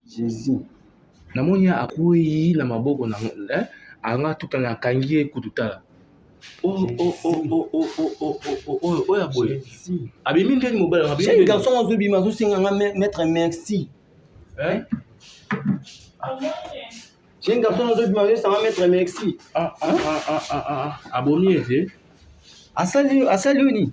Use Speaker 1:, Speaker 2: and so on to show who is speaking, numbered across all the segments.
Speaker 1: Jesus. Namoni
Speaker 2: ye akwei na maboko na eh, anga tuta na akangi ye kutu tala oyo ya boye abimi ndeni mobali abimi garçon azobima
Speaker 1: azosenga nga maître merci jeune
Speaker 2: garçon
Speaker 1: azobima azosanga maître merci abomi
Speaker 2: ye te asali oyo
Speaker 1: nini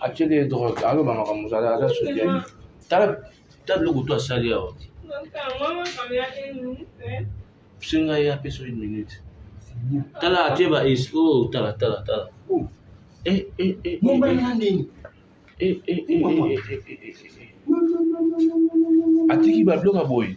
Speaker 2: atyeli ye drogue aloba makambo ozala aza sokiani tala ta biloko to asali awa senga ye apesa une minute tala atye ba espo oh, tala tala tala atiki babiloko ya boye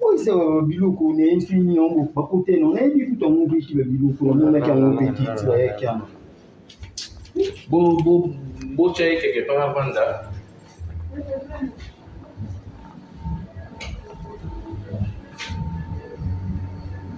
Speaker 1: oyisa biloko na ye soki nini yango bakota eno nayebi kutu yango mpeki babiloko namonaki yango mpeki ti bayaki yango
Speaker 2: botya ye keke mpa bavanda